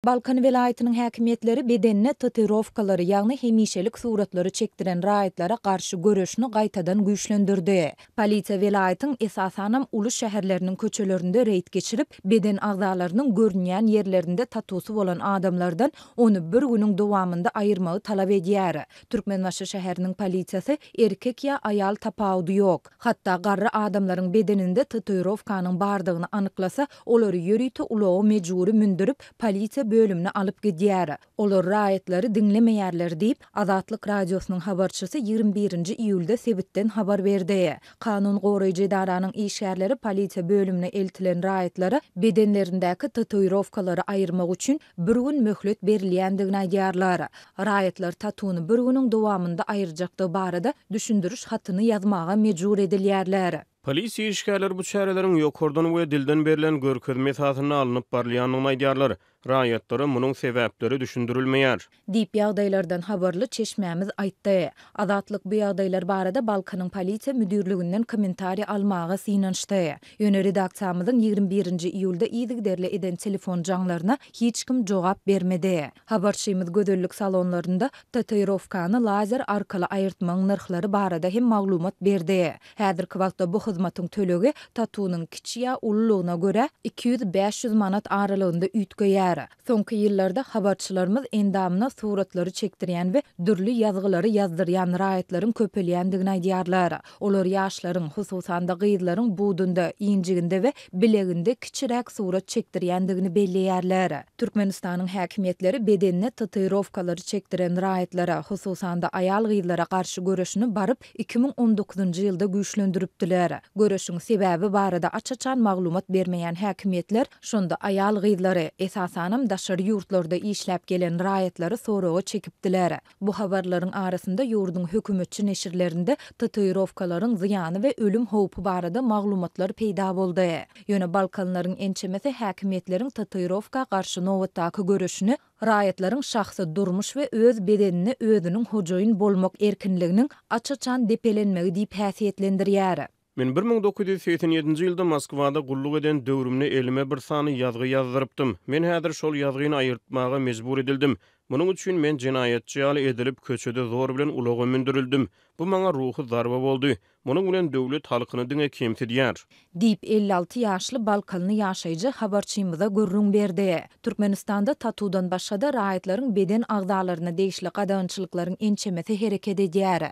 Balkan welaýatynyň häkimiýetleri bedenine tatuirowkalary, ýagny hemişelik suratlary çekdiren raýatlara garşy göreşini gaýtadan güýçlendirdi. Polisiýa welaýatyň, esasanam, uly şäherleriniň köçelerinde reýd geçirip, beden agzalarynyň görünýän ýerlerinde tatusy bolan adamlardan ony bir günüň dowamynda aýyrmagy talap edýär. Türkmenbaşy şäheriniň polisiýasy, erkek ýa aýal tapawudy ýok, hatda garry adamlaryň bedeninde tatuirowkanyň bardygyny anyklasa, Olary ýörite ulaga mejbury mündürip, polisiýa bölümine alyp gidýär. Olar raýatlary diňlemeýärler diýip, Azatlyk Radiosynyň habarçysy ýigrimi birinji iýulda sebitden habar berdi. Kanun goraýjy edaranyň işgärleri polisiýa bölümine eltilen raýatlara bedenlerindäki tatuirowkalary aýyrmak üçin bir gün möhlet berilýändigini aýdýarlar. Raýatlar tatuny bir günüň dowamynda aýyrjakdygy barada düşündiriş hatyny ýazmaga mejbur edilýärler. Polisiýa işgärleri bu çäreleriň ýokardan we dilden berlen görkezme esasynda alnyp barylýandygyny aýdýarlar. Raýatlara munuň sebäpleri düşündirilmeýär. Diýip, ýagdaýlardan habarly çeşmämiz aýtdy. Azatlyk bu ýagdaýlar barada Balkanyň polisiýa müdirliginden kommentariý almaga synanyşdy. Ýöne redaksiýamyzyň ýigrimi birinji iýulda yzygiderli eden telefon jaňlaryna hiç kim jogap bermedi. Habarçymyz gözellik salonlarynda tatuirowkany lazer arkaly aýyrtmagyň nyrhlary barada hem maglumat berdi. Häzirki wagtda bu hyzmatyň tölegi tatunyň kiçi ýa ululygyna görä iki ýüz, bäş ýüz manat aralygynda üýtgeýär. Soňky ýyllarda habarçylarymyz endamyna suratlary çekdirýän we dürli ýazgylary ýazdyrýan raýatlaryň köpelýändigini aýdýarlar. Olar ýaşlaryň, hususan-da gyzlaryň budunda, injiginde we bileginde kiçiräk surat çekdirýändigini belleýärler. Türkmenistanyň häkimiýetleri bedenine tatuirowkalary çekdiren raýatlara, hususan-da aýal-gyzlara garşy göreşini baryp iki müň on dokuzynjy ýylda güýçlendiripdiler. Göreşiň sebäbi barada aç-açan maglumat bermeýän häkimiýetler şonda aýal-gyzlary, esasanam daşary ýurtlarda işläp gelen raýatlary soraga çekipdiler. Bu habarlaryň arasynda ýurduň hökümetçi neşirlerinde tatuirowkalaryň zyýany we ölüm howpy barada maglumatlar peýda boldy. Ýöne balkanlaryň ençemesi häkimiýetleriň tatuirowka garşy nobatdaky göreşini Raýatlaryň şahsy durmuş we öz bedenine özüniň hojaýyn bolmak erkinliginiň aç-açan depelenmegi diýip häsiýetlendirýär. Men bir müň dokuz ýüz segsen ýedinji ýylda Moskwada gulluk eden döwrümde elime bir sany ýazgy ýazdyrypdym. Men häzir şol ýazgyny aýyrtmaga mejbur edildim. Munuň üçin men jenaýatçy ýaly edilip, köçede zor bilen ulaga mündürildim. Bu maňa ruhy zarba boldy. Munuň bilen döwlet halkyny diňe kemsidýär. Diýip, elli alty ýaşly balkanly ýaşaýjy habarçymyza gürrüň berdi. Türkmenistanda tatudan başga-da raýatlaryň beden agzalaryna degişli gadagançylyklaryň ençemesi hereket edýär.